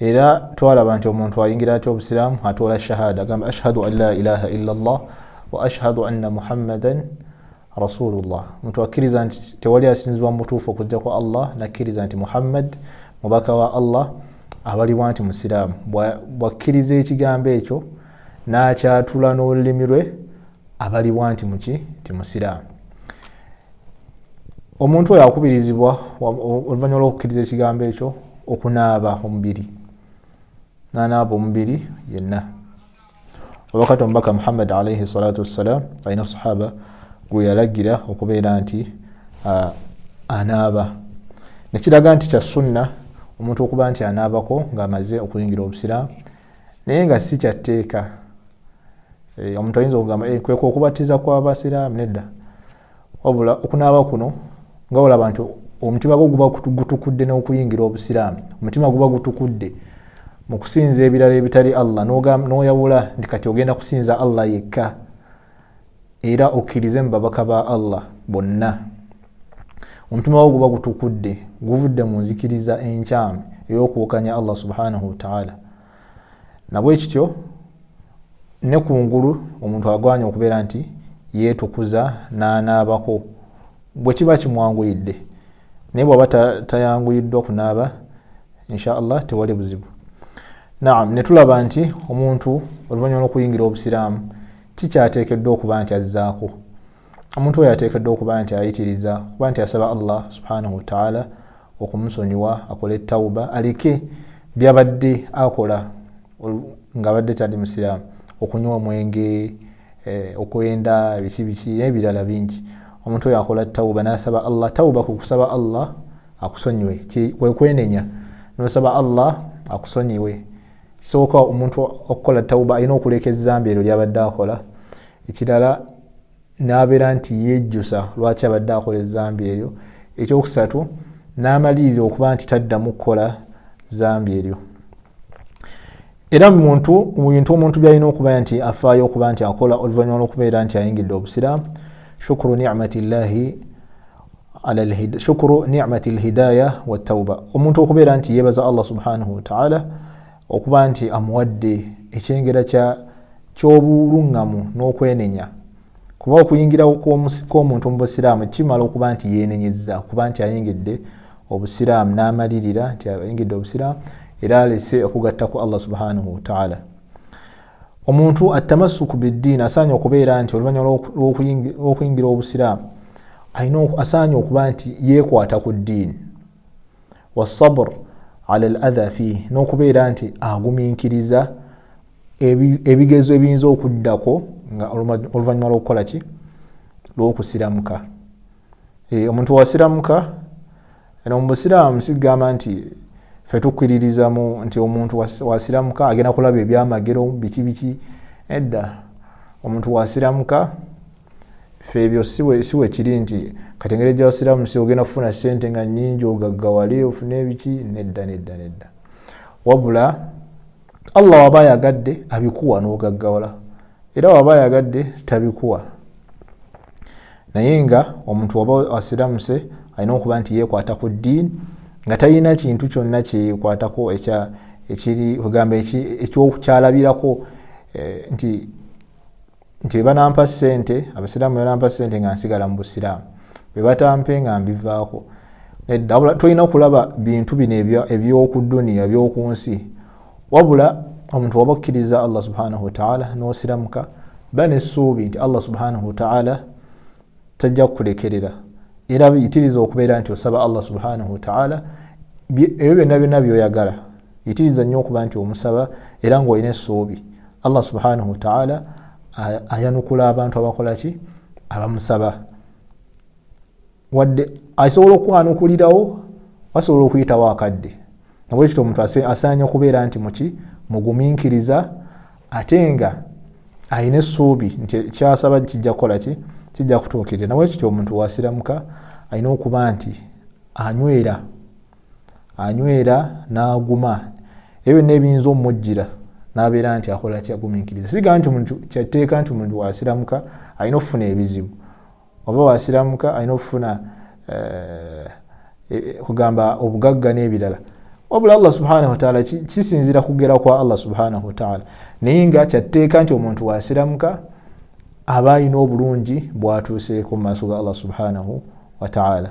era twalaba nti omuntu ayingira atya obusiraamu atoola shahada agamba ashhadu an la ilaha illa llah wa ashhadu anna muhammadan rasulullah omuntu akkiriza nti tewali asinzibwa mubutuufu okujjako allah nakkiriza nti muhammad mubaka wa allah abalibwa nti musiraamu bwakkiriza ekigambo ekyo n'akyatula n'olulimi lwe abalibwa nti muki nti musiraamu omuntu oyo akubirizibwa oluvanyuma lwokukkiriza ekigambo ekyo okunaaba omubiri nanaaba omubiri yenna obakati omubaka muhammad alaihi salatu wassalam alina sahaba gweyalagira okubeera nti anaaba nekiraga nti kya sunna omuntu okuba nti anaabako ngaamaze okuyingira obusiraamu naye nga si kyatteeka eh, omuntu ayinza okugamba eh, kweka okubatiza kwabasiraamu nedda wabula okunaaba kuno nga olaba nti omutima gwo guba gutukudde n'okuyingira obusiraamu omutima guba gutukudde mu kusinza ebirala ebitali allah n'oyawula nti kati ogenda kusinza allah yekka era okkirize mu babaka ba allah bonna omutima gwo guba gutukudde guvudde mu nzikiriza enkyamu ey'okuwukanya allah subhanahu wataala nabwe kityo ne ku ngulu omuntu agwanya okubeera nti yeetukuza n'anaabako bwe kiba kimwanguyidde naye bwaba tayanguyiddwa kunaaba insha allah tewali buzibu naam netulaba nti omuntu oluvannyuma lwokuyingira obusiraamu kikyateekeddwa okuba nti azzaako omuntu oyo ateekeddwa okuba nti ayitiriza kuba nti asaba allah subhanahu wataala okumusonyiwa akole tawuba aleke byabadde akola nga abadde tali musiraamu okunywa omwenge eh, okwenda biki biki n'ebirala bingi omuntu oyo akola tawuba n'asaba allah tawuba ku kusaba allah akusonyiwe kwekwenenya nosaba allah akusonyiwe sooka omuntu okukola tauba alina okuleka ezambi eryo lyabadde akola ekirala nabeera nti yejjusa lwaki abadde akola ezambi eryo ekyokusatu namalirira okuba nti taddamu kukola zambi eryo era muntu mubintu omuntu byalina okuba nti afaayo okuba nti akola oluvanyuma lwokubeera nti ayingidde obusiraamu shukuru nicmati llahi shukuru nimati lhidaya watauba omuntu okubeera nti yebaza allah subhanahu wataala okuba nti amuwadde ekyengera kyobuluŋŋamu n'okwenenya kuba okuyingira kwomuntu mu busiraamu kimala okuba nti yenenyeza okuba nti ayingidde obusiraamu n'amalirira nti ayingidde obusiraamu era alese okugatta ku allah subhanahu wataala omuntu atamasuku biddiini asaanye okubeera nti oluvannyuma lw'okuyingira obusiraamu alina asaanye okuba nti yeekwata ku ddiini wasabr ala al adha fiih n'okubeera nti agumiikiriza ebigezo ebiyinza okuddako nga oluvannyuma lw'okukola ki lw'okusiramuka eh, omuntu wasiramuka Eno mu Busiraamu sigamba nti fe tukkiririzamu nti omuntu wasiramuka agenda kulaba ebyamagero biki biki edda omuntu wasiramuka fe ebyo siwe kiri nti kati engeri gyawasiramu si ogenda kufuna sente nga nyingi ogaggawale ofune ebiki nedda nedda nedda wabula allah waba ayagadde abikuwa n'ogaggawala era waba ayagadde tabikuwa naye nga omuntu waba asiramuse alina okuba nti yekwata ku ddiini nga talina kintu kyonna kyekwatako ekiri ogamba ekyalabirako eh, nti nti bwe banampa ssente abasiraamu bwe banampa ssente nga nsigala mu busiraamu bwe batampe nga mbivaako nedda wabula tulina okulaba bintu bino eby'oku duniya eby'oku nsi wabula omuntu waba okkiriza allah subhanahu wataala n'osiramuka ba n'essuubi nti allah subhanahu wataala tajja kukulekerera era bitiriza okubeera nti osaba allah subhanahu wataala ebyo byonna byonna byoyagala yitiriza nnyo okuba nti omusaba era ngaolina essuubi allah subhanahu wataala ayanukula abantu abakolaki abamusaba wadde asobola okukwanukulirawo basobola okuyitawo akadde nabwekityo omuntu asaanya okubeera nti muki muguminkiriza ate nga alina essuubi nti kyasaba kijja kukolaki kijja kutuukirira nabwekityo omuntu wasiramuka alina okuba nti anywera anywera n'aguma ebyo byonna ebiyinza omujjira n'abeera nti akola kyagumiikiriza siga nti muntu kyatteeka nti muntu wasiramuka alina okufuna ebizibu oba wasiramuka alina okufuna eh, e, e, kugamba obugagga n'ebirala wabula allah subhanahu wataala kisinzira kugera kwa allah subhanahu wataala naye nga kyatteeka nti omuntu wasiramuka aba alina obulungi bwatuuseeko mu maaso ga allah subhanahu wataala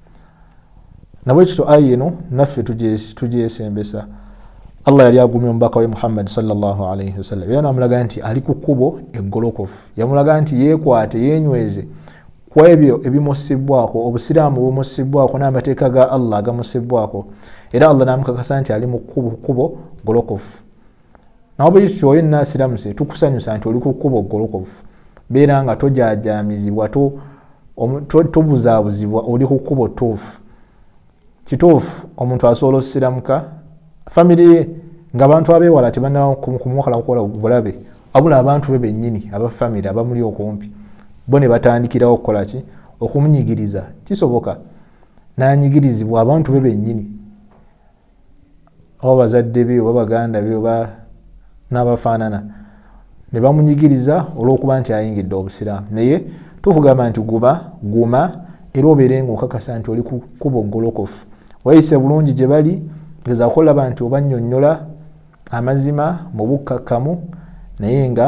nabwekityo aya eno naffe tugyesembesa allah yali agumya omubaka we muhammadi salllahalaihi wasallam era namulaga nti ali ku kkubo eggolokofu yamulaga nti yekwate yenyweze ku ebyo ebimussibwako obusiraamu bumussibwako n'amateeka ga allah agamussibwako era allah namukakasa nti ali mu kkubo golokofu nawe bwekityo oyo enna asiramuse tukusanyusa nti oli ku kkuba ogolokofu beera nga tojajamizibwa tobuzabuzibwa oli ku kkuba otuufu kituufu omuntu asobola osiramuka famiry ye nga abantu abewala tebanakumukalakula bulabe abula abantu be benyini abafamiry abamuli okumpi bo ne batandikirawo okukola ki okumunyigiriza kisoboka nanyigirizibwa abantu be benyini oba bazadde be oba baganda be oba n'abafaanana ne bamunyigiriza olw'okuba nti ayingidde obusiraamu naye tukugamba nti guba guma era obeere nga okakasa nti oli kukuba ogolokofu wayise bulungi gye bali gezaako olaba nti obanyonyola amazima mu bukkakkamu naye nga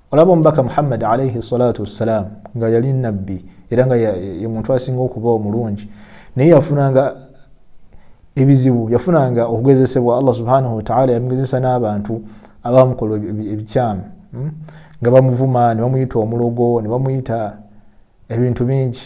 olaba omubaka muhammadi alaihi salatu wassalaamu nga yali nabbi era nga ye muntu asinga okuba omulungi naye yafunanga ebizibu yafunanga okugezesebwa allah subhanahu wataala yamugezesa n'abantu abamukola ebikyamu hmm? nga bamuvuma nebamuyita omulogo nebamuyita ebintu bingi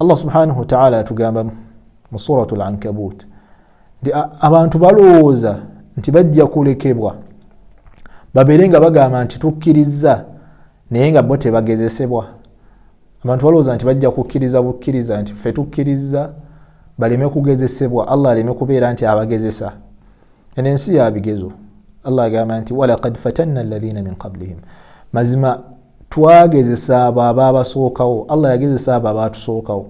allah subhanahu wataala atugamba mu surat al ankabut nti abantu balowooza nti bajja kulekebwa babeere nga bagamba nti tukkirizza naye nga bo tebagezesebwa abantu balowooza nti bajja kukkiriza bukkiriza nti fe tukkirizza baleme kugezesebwa allah aleme kubeera nti abagezesa eno ensi ya bigezo allah agamba nti walakad fatanna alladhina min qablihim mazima twagezesa abo ababasookawo allah yagezesa abo abatusookawo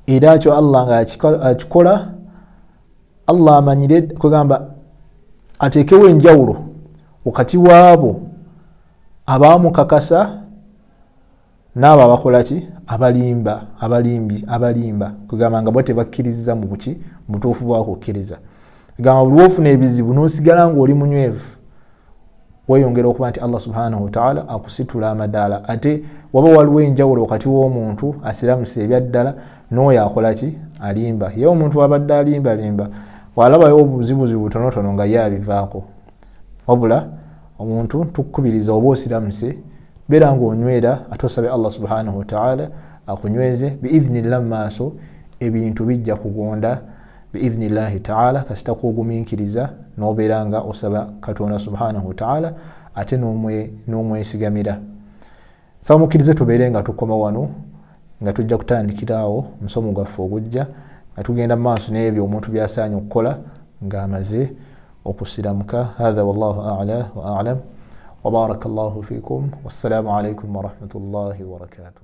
era kyo allah nga akikola allah amanyire kwegamba ateekewo enjawulo wakati waabo abaamukakasa n'abo abakola ki abalimba abalimbi abalimba kugamba nga bo tebakkiriza mu buki mu butuufu bwakukkiriza gamba buli wofuna ebizibu n'osigala ng'oli munywevu weyongera okuba nti allah subhanahu wataala akusitula amadaala ate waba waliwo enjawulo wakati w'omuntu asiramuse ebyaddala n'oyo akola ki alimba ye omuntu wabadde alimbalimba walabayo obuzibuzibu butonotono nga ye abivaako wabula omuntu tukukubiriza oba osiramuse beera nga onywera ate osabe allah subhanahu wataala akunyweze biidhnillah mu maaso ebintu bijja kugonda biidhnillahi taala kasita kuogumiikiriza nobeera nga osaba katonda subhanahu wataala ate n'omwesigamira saba mukkirize tubeere nga tukoma wano nga tujja kutandikiraawo omusomo gwaffe ogujja nga tugenda maaso n'ebyo omuntu byasaanye okukola ng'amaze okusiramuka hatha wallahu ala wa alam wabaraka llahu fikum wassalamu alaikum warahmatullahi wabarakatuh